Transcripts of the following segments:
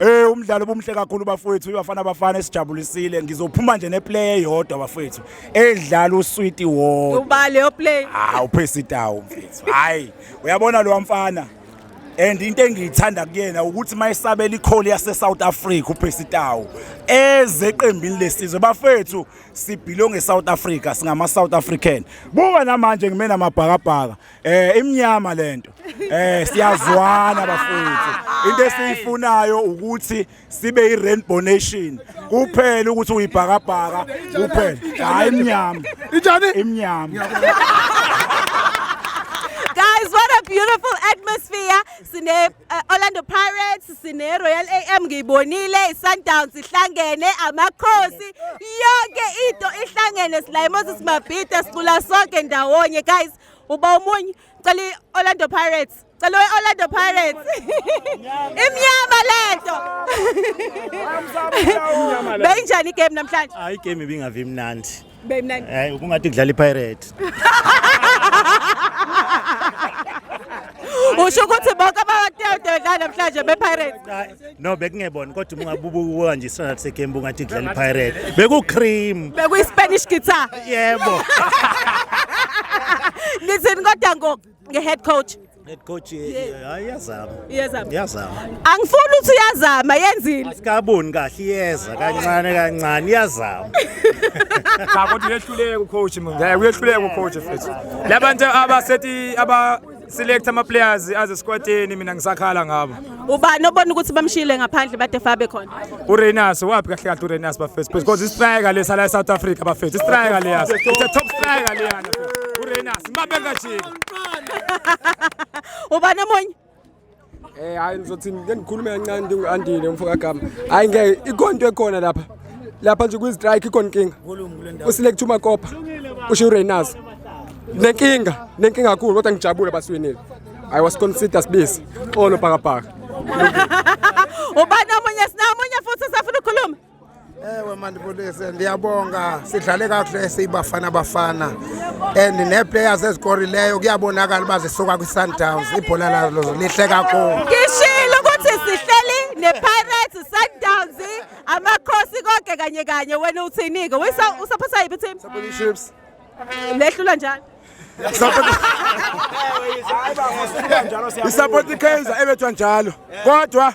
Eh umdlalo obumhle kakhulu bafowethu ibafana bafana esijabulisile ngizophuma nje neplay eyodwa bafowethu edlala uswiti wodwa uba leyo play ah uphesi tawo mfethu hayi uyabona lo mfana and into engiyithanda kuyena ukuthi mayisabela ikholi yase South Africa uphesi tawo eze eqembini lesizwe bafowethu sibhilonge South Africa singama South African buka namanje ngimena mabhakabhaka Eh imnyama lento. Eh siyazwana bafowethu. Into esiyifunayo ukuthi sibe i rainbow nation. Kuphela ukuthi uyibhakabhaka kuphela. Hayi imnyama. Injani? Imnyama. Guys, what a beautiful atmosphere. Sine uh, Orlando Pirates, sine Royal AM ngiyibonile, iSundowns ihlangene, amakhosi, yonke into ihlangene sila eMoses Mabhida sicula sonke ndawonye guys. uba omunye cela i-orlando pirates cela i-orlando pirates imnyama lento beyinjani igame namhlanje hayi igame ibingavi mnandi beyimnandi hayi ubungathi kudlala ipirate usho ukuthi bonke abatewudela namhlanje bepirates no bekungebona kodwa uma ungabubuka nje isona sekembu ngathi kudlala ipirate bekucream bekuyispanish guitar yebo ngithini kodwa ngo nge-head coach head coach eh, eh, hayi iyazama Iyazama. iyazama angifuni ukuthi uyazama yenzile sikaboni kahle iyeza kancane kancane iyazama cha kodwa uyehluleka ucoach mina ngiyaye uyehluleka ucoach futhi labantu abasethi aba select ama players aze squadini mina ngisakhala ngabo ubani obona ukuthi bamshiyile ngaphandle bade fabe khona uRenas wapi kahle kahle uRenas bafethu because istriker lesa la eSouth Africa bafethu istriker leya it's a top striker leya uRenas mabeka jiki ubani omunye Eh hayi ngizothi ngeke ngikhulume kancane ndingu-andile umfo kagama hayi ngeke ikhona into ekhona lapha lapha nje kwi-strike ikhona inkinga uselekthi umakopa usho ureynazo nenkinga nenkinga kakhulu kodwa ngijabule basiwinile i was consider sibisi xolo bhakabhaka ubani omunye sinamunye futhi usafuna ukukhuluma ewe mandibulise ndiyabonga sidlale kakuhle siyibafana bafana and nee-players ezikorileyo kuyabonakala uba zisuka kwi-sundowns ibhola lazo lihle kakhulu ngishilo ukuthi sihleli ne-pirates sundowns amakhosi konke kanye kanye wena uthini-ke usaphosa yiphi team lehlula njalo isapoti ikaizer ebethwa njalo kodwa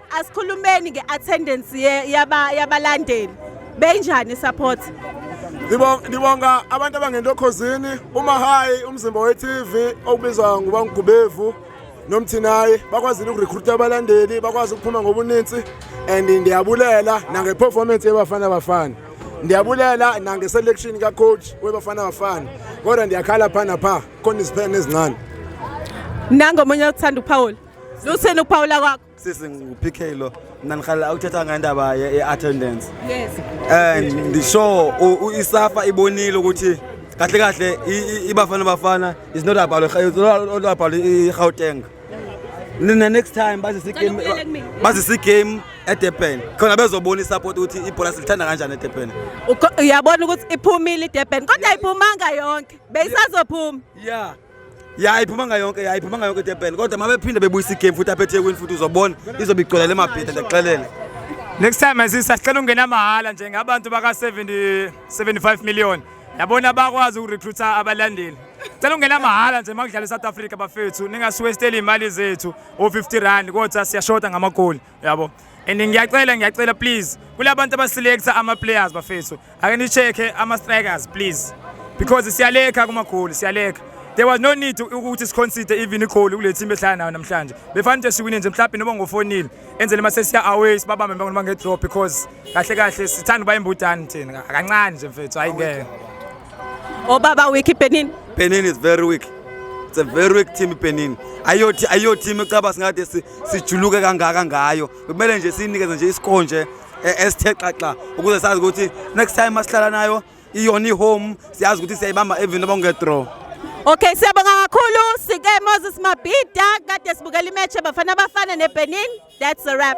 Asikhulumeni nge-attendance yabalandeli benjani support ndibonga abantu abangento khozini umahayi umzimba we-tv okubizwa nguba ngugubevu nomthinayi bakwazile ukurekhruta abalandeli bakwazi ukuphuma ngobuninzi and ndiyabulela nangeperformance yebafana bafana ndiyabulela nangeselection kacoach webafana bafana kodwa ndiyakhala pha napha khona iziphene ezincane nangomunye othanda ukuphawula lutheni ukuphawula kwakho sisi ngu-pk lo mna ndihlala awuthetha ngendaba ye-attendance yes and ndisho isafa ibonile ukuthi kahle kahle ibafana bafana is not about it's not about i-gauteng nina next time bazise game bazise game eDurban khona bezobona isupport ukuthi ibhola silithanda kanjani eDurban uyabona ukuthi iphumile iDurban kodwa ayiphumanga yonke beyisazophuma yeah ya iphuma ngayonke ya iphuma ngayonke idurban kodwa uma bephinde bebuyisa igame futhi aphethe ekwini futhi uzobona izobe igcwele le mabhida ndiyakuxelela next time asisa sicela ungena mahhala nje ngabantu baka 70 75 million yabona bakwazi ukurecruita abalandeli cela ungena mahhala nje makudlala eSouth Africa bafethu ningasiwesteli imali zethu o 50 rand kodwa siyashota ngamagoli yabo and ngiyacela ngiyacela please kulabantu abaselecta ama players bafethu ake ni check ama strikers please because siyalekha kuma goal siyalekha there was no need ukuthi siconsider even igoal kule team ehlala nayo namhlanje befanele ukuthi siwine nje mhlawumbe noba ngofonile enzele mase siya away sibabambe noma nge draw because kahle kahle sithanda uba imbudani thina kancane nje mfethu hayi ngeke obaba oh, weak Benin Benin is very weak it's a very weak team Benin ayothi ayothi ecaba singathi sijuluke kangaka ngayo bekumele nje siyinikeze nje iscore nje e- esithe xaxa ukuze sazi ukuthi next time masihlala nayo iyona ihome siyazi ukuthi siyayibamba even noma kungedraw Okay siyabonga kakhulu sike Moses Mabhida kade sibukela imatch yabafana abafana neBenin that's a wrap